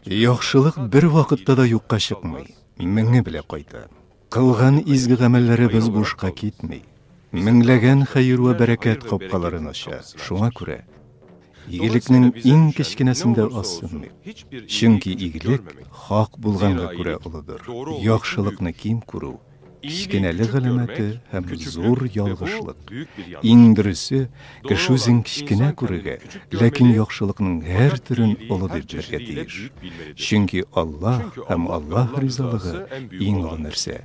Яхшылык бер вакытта да юкка чыкмый, меңе белә кайта. Кылган изге гамәлләребез бушка китми. Меңләгән хәер вә бәрәкәт капкаларын ача. Шуңа күрә игелекнең иң кечкенәсендә ассынмый. Чөнки игелек хак булганга күрә олыдыр. Яхшылыкны ким күрү, Кечкенәлек галәмәте һәм зур ялгышлык. Иң дөресе, кеше үзен кечкенә күрергә, ләкин яхшылыкның һәр төрен олы дип белергә тиеш. Чөнки Аллаһ һәм Аллаһ ризалыгы иң олы нәрсә.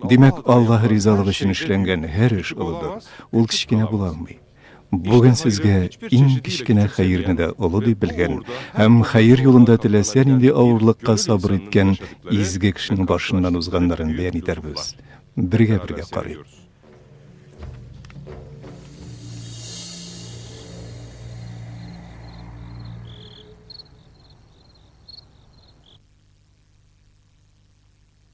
Димәк, Аллаһ ризалыгы өчен эшләнгән һәр эш олыдыр, ул кечкенә була алмый. Бүген сезгә иң кечкенә хәерне дә олы дип белгән һәм хәер юлында теләсә нинди авырлыкка сабыр иткән изге кешенең башыннан узганнарын бәян итәрбез. Бергә-бергә карыйк.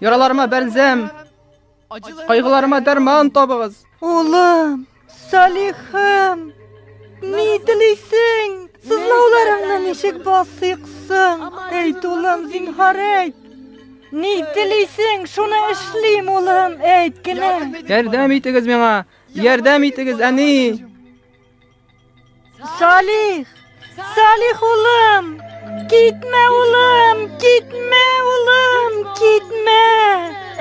Яраларыма бәлзәм, кайгыларыма дәрман табыгыз. Улым, Салихым, ни телисең? Сызлауларыңны ничек басыйк соң? Әйт, улым, зинһар әйт. Ни телисең, шуны эшлим, улым, әйт кенә. Ярдәм итегез миңа, ярдәм итегез, әни. Салих! Салих улым! Китмә улым! Китмә улым! Китмә!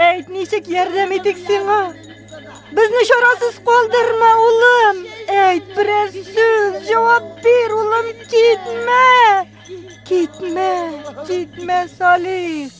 Әйт, ничек ярдәм итик сиңа? Безне чарасыз калдырма, улым! Әйт, берәр сүз, җавап бир, улым, китмә! Китмә, китмә, Салих!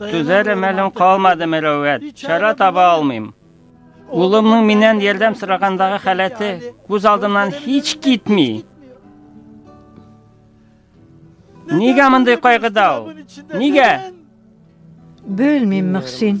Түзәр мәлем калмады, Мөрәвәт. Чара таба алмыйм. Улымның миннән ярдәм сорагандагы халәте күз алдымнан һич китми. Нигә мондый кайгыда ул? Нигә? Белмим, Мөхсин.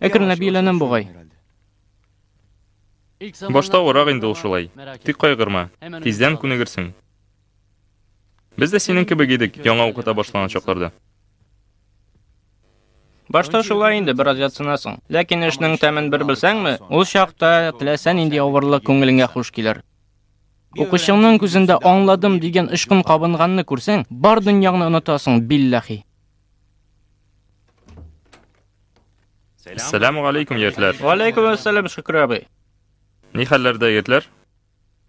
Әкренләп өйләнәм бугай. Башта авырак инде ул шулай. Тик кайгырма. Тиздән күнегерсең. Без дә синең кебек идек, яңа укыта башлаган чакларда. Башта шулай инде, бераз ятсынасың. Ләкин эшнең тәмен бер белсәңме, ул чакта теләсә нинди авырлык күңелеңә хуш килер. Укучыңның күзендә аңладым дигән очкын кабынганны күрсәң, бар дөньяңны онытасың, билләхи. Сәләму алейкум, егетләр. Алейкум ассалам, Шөкер абый. Ни хәлләрдә, егетләр?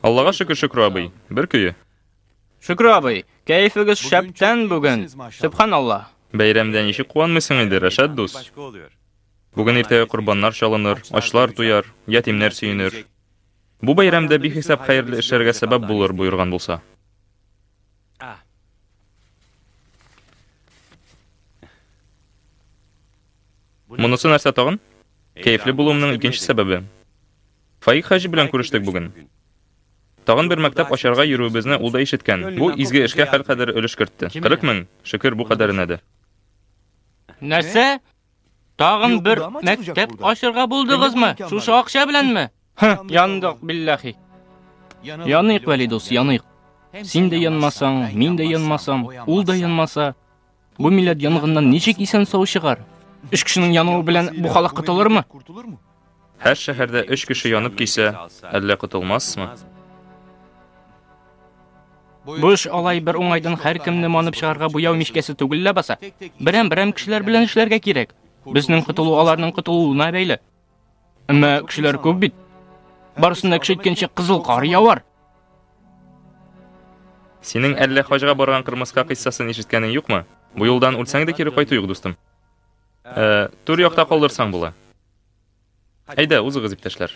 Аллага шөкер, Шөкер абый. Бер көе. Шөкер абый, кәефегез шәптән бүген. Субханалла. Бәйрәмдә ничек куанмыйсың инде, Рәшәт дус? Бүген иртәгә корбаннар чалыныр, ачлар туяр, ятимнәр сөенер. Бу бәйрәмдә бихисап хәерле эшләргә сәбәп булыр, боерган булса. Ah. Монысы нәрсә тагын? Кәефле булуымның икенче сәбәбе. Фаик хаҗи белән күрештек бүген. Тагын бер мәктәп ачарга йөрүебезне ул да ишеткән. Бу изге эшкә хәл кадәр өлеш кертте. 40 мең, шөкер, бу кадәренә дә. Нәрсә? Тагын бер мәктәп ачырга булдыгызмы? Шушы акча беләнме? Ха, яндык биллахи. Яныйк, Вәли дус, яныйк. Син дә янмасаң, мин дә янмасам, ул да янмаса, бу милләт янгыннан ничек исән сау чыгар? Үш кешенең януы белән бу халык котылырмы? Һәр шәһәрдә өч кеше янып кисә, әллә котылмассмы? Бу эш алай бер уңайдан һәркемне манып чыгарга буяу мичкәсе түгел ләбаса. Берәм-берәм кешеләр белән эшләргә кирәк. Безнең котылу аларның котылуына бәйле. Әмма кешеләр күп бит. Барысында кеше иткәнче кызыл кар явар. Синең әллә хаҗга барган кырмыска кыйссасын ишеткәнең юкмы? Бу юлдан үлсәң дә кире кайту юк, дустым. Ә, түр якта калдырсаң була. Әйдә, узыгыз, иптәшләр.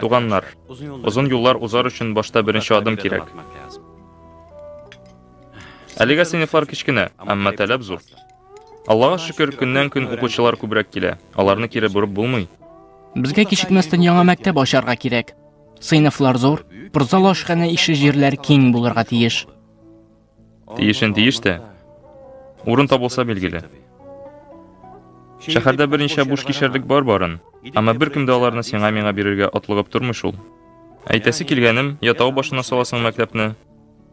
Туганнар, озын юллар узар өчен башта беренче адым кирәк. Әлегә сыйныфлар кечкенә, әмма таләп зур. Аллага шөкер, көннән-көн укучылар күбрәк килә. Аларны кире борып булмый. Безгә кичекмәстән яңа мәктәп ачарга кирәк. Сыйныфлар зур, спортзал ашханә ише җирләр киң булырга тиеш. Тиешен тиеш тә. Урын табылса билгеле. Шәһәрдә берничә буш кишәрлек бар барын, әмма беркем дә аларны сиңа миңа бирергә атлыгып тормый шул. Әйтәсе килгәнем, я тау башына саласың мәктәпне,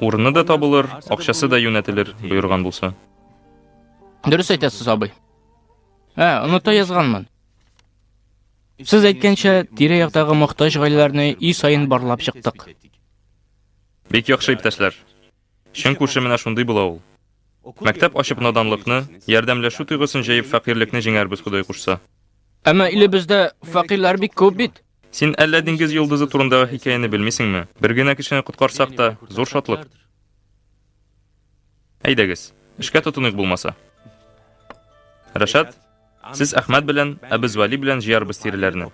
Урыны да табылыр, акчасы да юнәтелер, боерган булса. Дөрес әйтәсез, абый. Ә, оныта язганмын. Сез әйткәнчә, тирә-яктагы мохтаҗ гаиләләрне үй саен барлап чыктык. Бик яхшы иптәшләр. Чын күрше менә шундый була ул. Мәктәп ачып наданлыкны, ярдәмләшү тойгысын җәеп фәкыйрлекне җиңәрбез Ходай кушса. Әмма илебездә фәкыйрьләр бик күп бит. Син әллә диңгез йолдызы турындагы хикәяне белмисеңме? Бер генә кешене коткарсак та, зур шатлык. Әйдәгез, эшкә тотыныйк булмаса. Рәшат, сез Әхмәт белән, ә без Вали белән җыярбыз тиреләрне.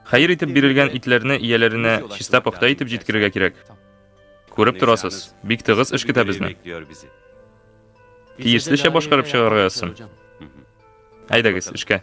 Хәер итеп бирелгән итләрне ияләренә чиста пөхтә итеп җиткерергә кирәк. Күреп торасыз, бик тыгыз эш көтә безне. Тиешлечә башкарып чыгарга язсын. Әйдәгез, эшкә.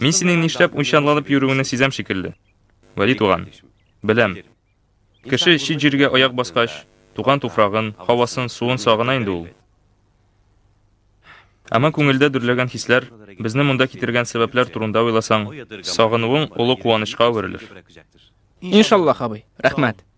Мин синең нишләп уйчанланып йөрүеңне сизәм шикелле. Вәли туган. Беләм. Кеше чит җиргә аяк баскач, туган туфрагын, һавасын, суын сагына инде ул. Әмма күңелдә дөрләгән хисләр, безне монда китергән сәбәпләр турында уйласаң, сагынуың олы куанычка әверелер. Иншаллах, абый. Рәхмәт.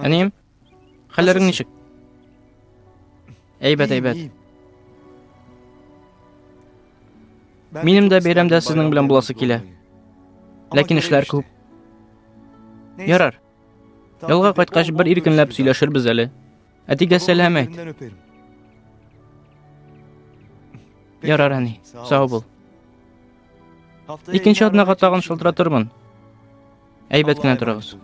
Әнием, хәлләрең ничек? Әйбәт, әйбәт. Минем дә бәйрәмдә сезнең белән буласы килә. Ләкин эшләр күп. Ярар. Ялга кайткач бер иркенләп сөйләшербез әле. Әтигә сәлам әйт. Ярар, әни, сау бул. Икенче атнага тагын шылтыратырмын. Әйбәт кенә торыгыз.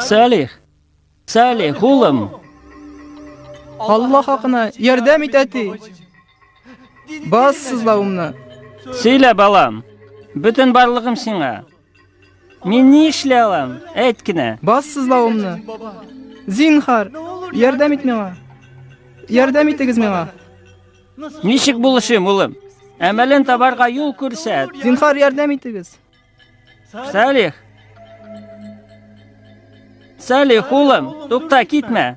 Салих! Салих, улым! Алла хакына, ярдәм ит, әти! Бас сызлавымны! Сөйлә, балам! Бөтен барлыгым сиңа! Мин ни эшли алам? Әйт кенә. Бас сызлавымны. Зинхар, ярдәм ит миңа. Ярдәм итегез миңа. Ничек булышым, улым? Әмәлен табарга юл күрсәт. Зинхар, ярдәм итегез. Салих. Салих, улым, тукта, китмә.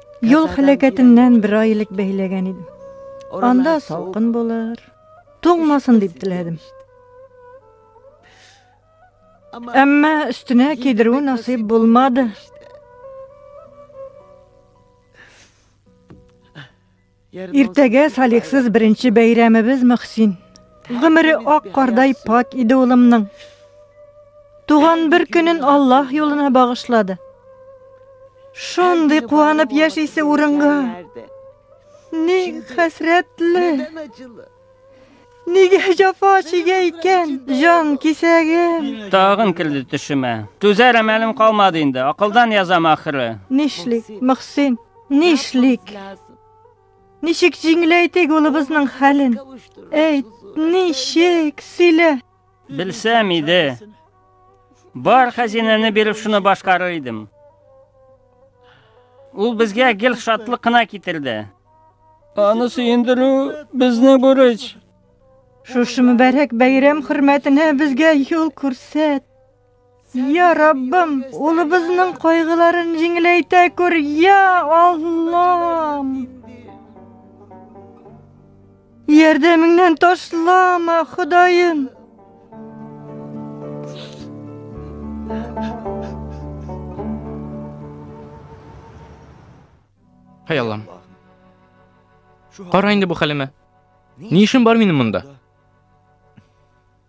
Юл хәләкәтеннән бер ай элек бәйләгән идем. Анда салкын булыр. Туңмасын дип теләдем. Әмма өстенә кидерү насыйп булмады. Иртәгә салихсыз беренче бәйрәмебез Мөхсин. Гомере ак кардай пак иде улымның. Туган бер көнен Аллаһ юлына багышлады. Шундый куанып яшисе урынга. Ни хәсрәтле. Нидән Нигә җафа чигә икән, җан кисәгем? Тагын керде төшемә. Түзәр әмәлем калмады инде, акылдан язам ахыры. Нишлик, Мөхсин, нишлик? Ничек җиңеләйтик улыбызның хәлен? Әйт, ничек, сөйлә. Белсәм иде. Бар хәзинәне биреп шуны башкарыр идем. Ул безгә гел шатлык кына китерде. Аны сөендерү безнең бурыч. Шушы мөбарәк бәйрәм хөрмәтенә безгә юл күрсәт. Я Раббым, улыбызның кайгыларын җиңеләйтә күр, я Аллам! Ярдәмеңнән ташлама, Ходаем! Хәй Аллам. Кара инде бу хәлемә. Ни эшем бар минем монда?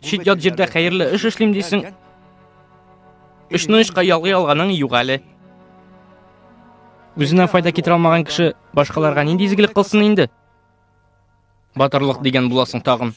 Чит ят җирдә хәерле эш эшлим дисең. Өчне очка ялгый алганың юк әле. Үзенә файда китерә алмаган кеше башкаларга нинди изгелек кылсын инде? Батырлык дигән буласың тагын.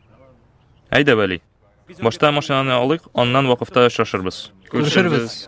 Әйдә, Вәли. Башта машинаны алыйк, аннан вакыфта очрашырбыз. Күрешербез.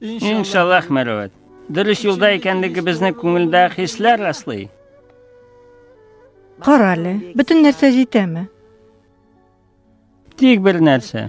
Иншаллах, Мәрвәт. Дөрес юлда икәнлегебезне күңелдә хисләр раслый. Кара әле, бөтен нәрсә җитәме? Тик бер нәрсә.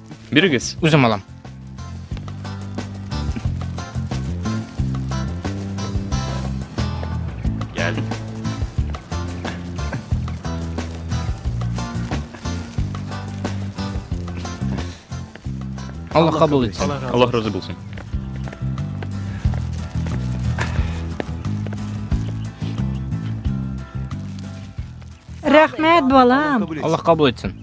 Бирегез. Үзем алам. Гел. Аллах кабул итсен. Аллах разы булсын. Рәхмәт, балам. Аллах кабул итсен.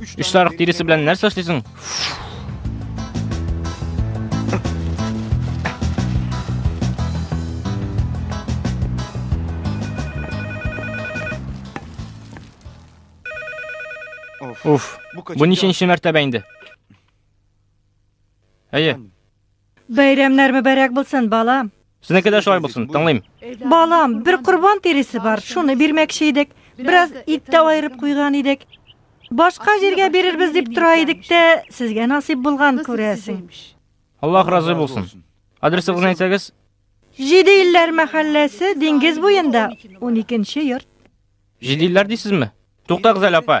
Өч сарык тиресе белән нәрсә эшлисең? Уф, бу ниченче мәртәбә инде? Әйе, Бәйрәмнәр мөбәрәк булсын, балам. Сезнеке дә шулай булсын, тыңлыйм. Балам, бер корбан тиресе бар, шуны бирмәкче идек. Бераз ит тә аерып куйган идек. Башка җиргә бирербез дип тора идек тә, сезгә насыйп булган күрәсең. Аллаһ разый булсын. Адресыгызны әйтсәгез? Җиде илләр мәхәлләсе, диңгез буенда, 12 нче йорт. Җиде илләр дисезме? Туктагыз әле, апа.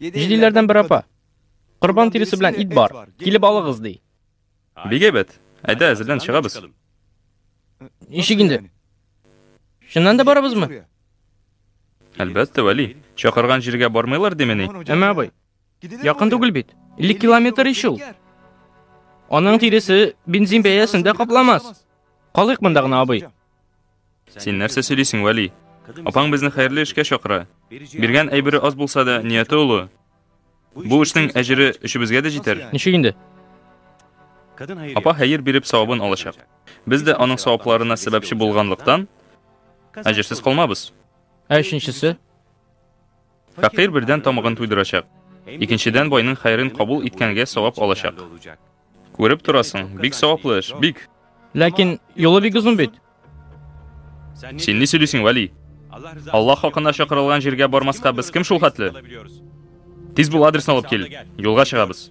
Җилиләрдән бер апа. Корбан тиресе белән ит бар. Килеп алыгыз, ди. Бик әйбәт. Әйдә, әзерлән чыгабыз. Ничек инде? Чыннан да барабызмы? Әлбәттә, Вәли. Чакырган җиргә бармыйлар димени? Әмма абый, якын түгел бит. 50 километр ич ул. Аның тиресе бензин бәясен дә капламас. Калыйк монда гына, абый. Син нәрсә сөйлисең, Вәли? Апаң безне хәерле эшкә чакыра. Биргән әйбере аз булса да, нияте олы. Бу эшнең әҗере өчебезгә дә җитәр. Ничек инде? Апа хәер биреп савабын алачак. Без дә аның савапларына сәбәпче булганлыктан, әҗерсез калмабыз. Ә өченчесе? Фәкыйрь бердән тамагын туйдырачак. Икенчедән байның хәерен кабул иткәнгә савап алачак. Күреп торасың, бик саваплы эш, бик. Ләкин юлы бик озын бит. Син ни сөйлисең, Вали? Аллаһ хакына чакырылган җиргә бармаска без кем шул хәтле? Тиз бул адресны алып кил. Юлга чыгабыз.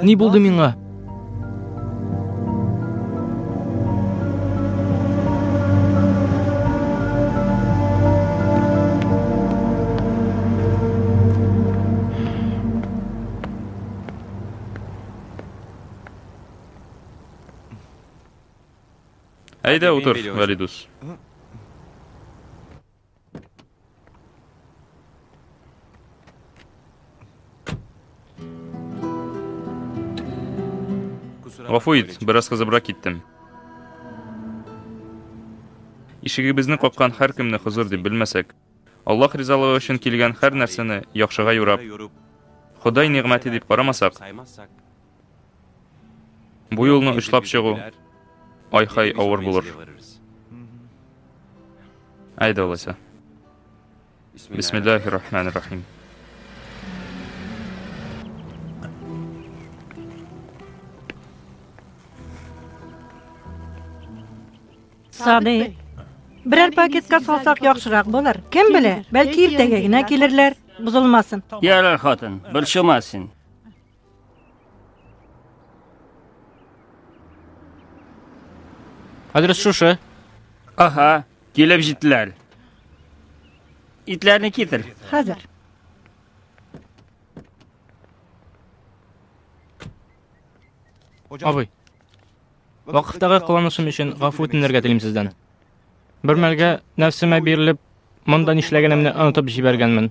Ни булды миңа? Әйдә утыр, Вәлидус. Гафу ит, бераз кызыбрак киттем. Ишегебезне каккан һәркемне хозур дип белмәсәк, Аллаһ ризалыгы өчен килгән һәр нәрсәне яхшыга юрап, Ходай нигъмәте дип карамасак, Бу юлны очлап чыгу ай-хай авыр булыр. Әйдә алайса. Бисмиллахи рахмани рахим. Сади, берәр пакетка салсак яхшырак булыр. Кем белә, бәлки иртәгә генә килерләр, бозылмасын. Ярар, хатын, борчылма син. Адрес шушы. Аха, килеп җиттеләр. Итләрне китер. Хәзер. Абый. Вакыттагы кыланышым өчен гафу үтенергә телим сездән. Бер мәлгә нәфсемә бирелеп, монда нишләгәнемне онытып җибәргәнмен.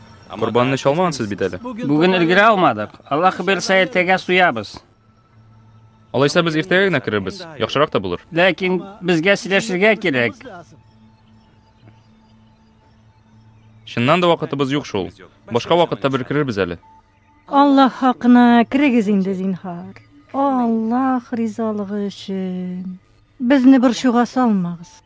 Корбанны чалмагансыз бит әле. Бүген өлгерә алмадык. Алла хәбирсә иртәгә суябыз. Алайса без иртәгә генә керербез. Яхшырак та булыр. Ләкин безгә сөйләшергә кирәк. Чыннан да вакытыбыз юк шул. Башка вакытта бер керербез әле. Алла хакына керегез инде зинһар. Аллах ризалыгы өчен. Безне борчуга салмагыз.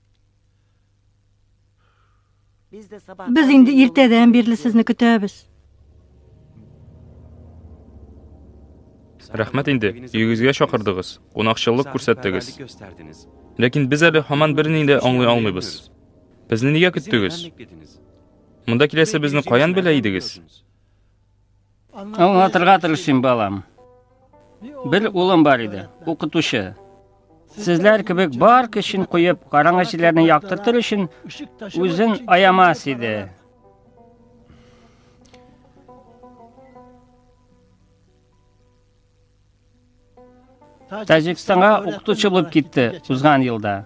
Без инде иртәдән бирле сезне көтәбез. Рәхмәт инде, өегезгә чакырдыгыз, кунакчыллык күрсәттегез. Ләкин без әле һаман берни дә аңлый алмыйбыз. Безне нигә көттегез? Монда киләсе безне каян белә идегез? Аңлатырга тырышыйм, балам. Бер улым бар иде, укытучы. Сезләр кебек бар көчен куеп, караңгы җирләрне яктыртыр өчен үзен аямас иде. Таҗикстанга укытучы булып китте узган елда.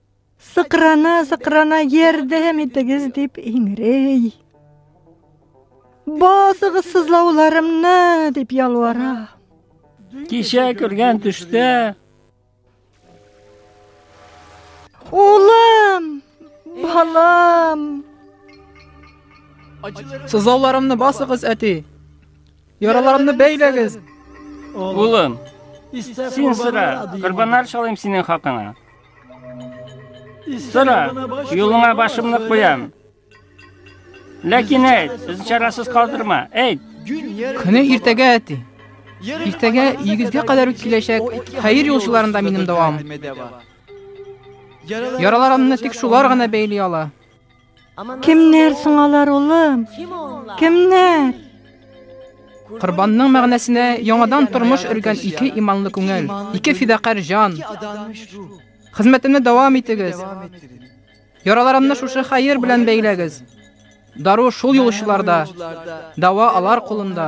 Сыкрана, сыкрана, ярдәм итегез дип иңрей. Басыгыз сызлауларымны дип ялвара. Кичә күргән төштә Улым, балам. Сызлауларымны басыгыз, әти. Яраларымны бәйләгез. Улым, син сыра, корбаннар шалыйм синең хакыңа. Сора, юлыңа башымны куям. Ләкин әйт, без чарасыз калдырма. Әйт. Көне иртәгә әти. Иртәгә игезгә кадәр үк киләчәк. Хәер юлчыларында минем дәвам. Яраларымны тик шулар гына бәйли ала. Кемнәр соң алар, улым? Кемнәр? Корбанның мәгънәсенә яңадан тормыш өргән ике иманлы күңел, ике фидакарь җан. Хезмәтемне дәвам итегез. Яраларымны шушы хәер белән бәйләгез. Дару шул юлчыларда, дәва алар кулында.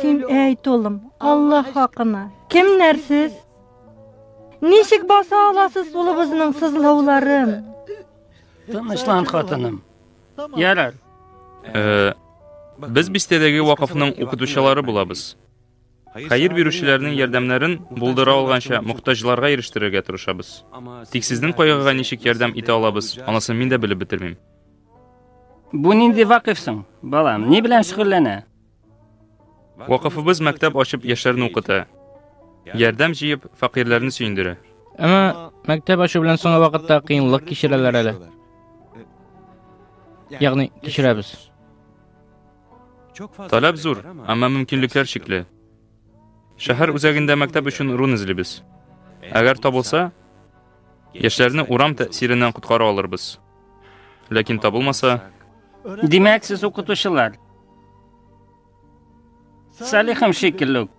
Син әйт, улым, Алла хакына. Кемнәр сез? Ничек баса аласыз улыбызның сызлауларын? Тынычлан, хатыным. Ярар. Э, без бистәдәге вакыфның укытучылары булабыз. Хәер бирүчеләрнең ярдәмнәрен булдыра алганча мохтаҗларга ирештерергә тырышабыз. Тик сезнең кайгыга ничек ярдәм итә алабыз, анысын мин дә белеп бетермим. Бу нинди вакыф соң, балам? Ни белән шөгыльләнә? Вакыфыбыз мәктәп ачып яшьләрне укыта. Ярдәм җыеп, фәкыйрьләрне сөендерә. Әмма мәктәп ачу белән соңгы вакытта кыенлык кичерәләр әле. Ягъни кичерәбез. Таләп зур, әмма мөмкинлекләр чикле. Шәһәр үзәгендә мәктәп өчен урын эзлибез. Әгәр табылса, яшьләрне урам тәэсиреннән коткара алырбыз. Ләкин табылмаса... Димәк, сез укытучылар. Салихым шикелле үк.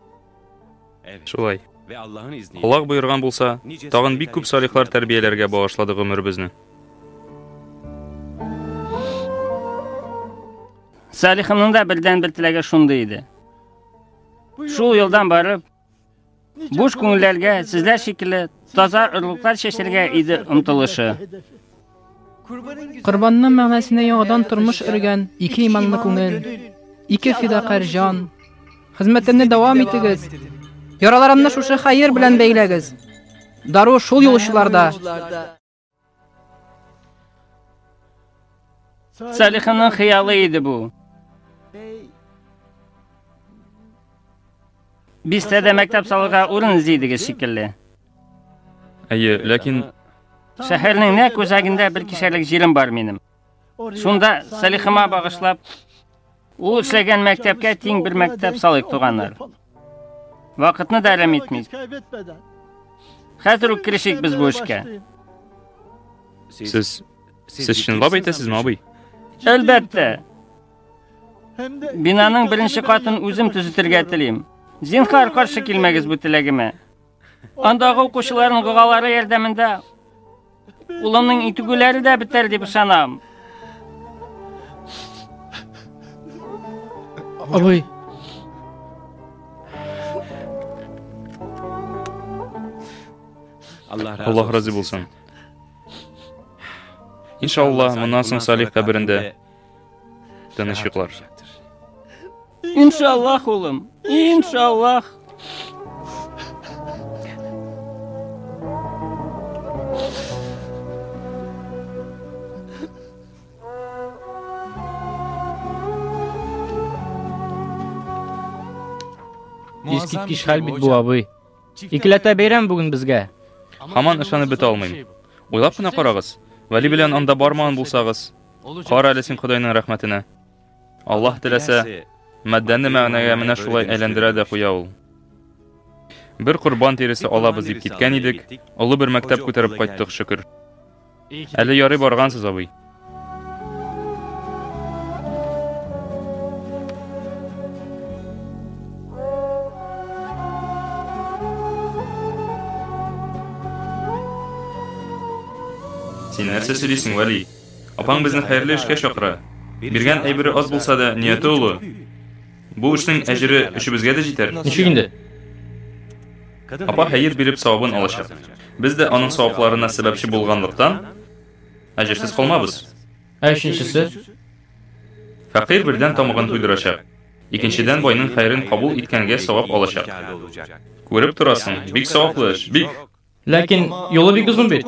Шулай. Аллах боерган булса, тагын бик күп салихлар тәрбияләргә багышлады гомеребезне. Салихымның да бердән бер теләге шундый иде. Шул юлдан барып, Буш күңелләргә сезләр шикелле таза орлыклар чәчәргә иде омтылышы. Корбанның мәгънәсенә яңадан тормыш өргән ике иманлы күңел, ике фидакарь җан. Хезмәтемне дәвам итегез. Яраларымны шушы хәер белән бәйләгез. Дару шул юлчыларда. Сәлиханың хыялы иде бу. Бистәдә мәктәп салырга урын эзли идегез шикелле. Әйе, ләкин Шәһәрнең нәкъ үзәгендә бер кишәрлек җирем бар минем. Шунда Салихыма багышлап, ул эшләгән мәктәпкә тиң бер мәктәп салыйк, туганнар. Вакытны да әрәм итмик. Хәзер үк керешик без бу эшкә. Сез сез чынлап әйтәсезме, абый? Әлбәттә. Бинаның беренче катын үзем төзетергә телим. Зинхар, каршы килмәгез бу теләгемә. Андагы укучыларның догалары ярдәмендә улымның итүгеләре дә бетәр дип ышанам. Абый. Аллаһ разый булсын. Иншалла, моннан соң Салих каберендә Тыныч йоклар. Иншаллах, улым. Иншаллах. Искиткеч хәл бит бу, абый. Икеләтә бәйрәм бүген безгә. Хаман ышанып бетә алмыйм. Уйлап кына карагыз. Вәли белән анда бармаган булсагыз, Кара әле син Ходайның рәхмәтенә. Аллаһ теләсә, матдәне мәгънәгә менә шулай әйләндерә дә куя ул. Бер корбан тиресе алабыз дип киткән идек, олы бер мәктәп күтәреп кайттык, шөкер. Әле ярый баргансыз, абый. Син нәрсә сөйлисең, Вәли? Апаң безне хәерле эшкә чакыра. Биргән әйбере аз булса да, нияте олы. Бу эшнең әҗере өчебезгә дә җитәр. Ничек инде? Апа хәер биреп савабын алачак. Без дә аның савапларына сәбәпче булганлыктан, әҗерсез калмабыз. Ә өченчесе? Фәкыйрь бердән тамагын туйдырачак. Икенчедән байның хәерен кабул иткәнгә савап алачак. Күреп торасың, бик саваплы эш, бик. Ләкин юлы бик озын бит.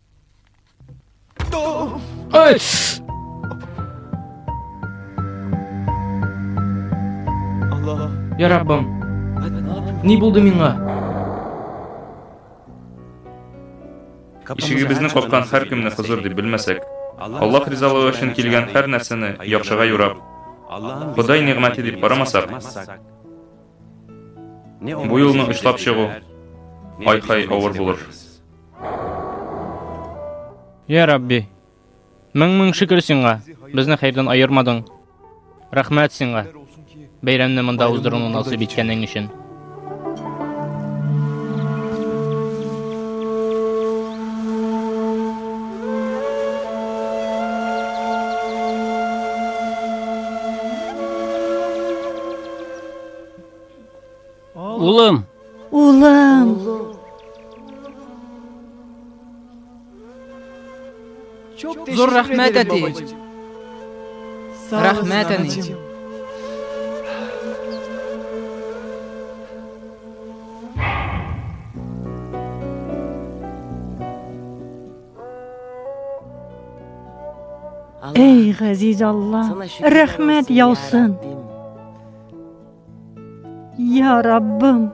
Ой! Я Раббым, ни булды миңа? Ишегебезне капкан һәр кемне хозур дип белмәсәк, Аллаһ ризалыгы өчен килгән һәр нәрсәне яхшыга юрап, Ходай нигъмәте дип карамасак, бу юлны очлап чыгу ай-хай авыр булыр. Я Рабби, мең-мең шөкер сиңа, безне хәердән аермадың. Рәхмәт сиңа, бәйрәмне монда уздыруны насыйп иткәнең өчен. Улым! Улым! Зур рәхмәт, әти! Рәхмәт, әни! Эй, газиз Алла, рәхмәт яусын! Я Раббым!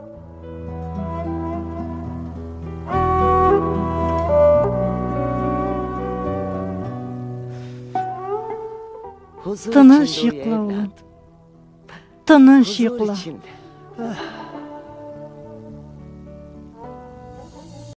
Тыныш йокла, улым. Тыныш йокла.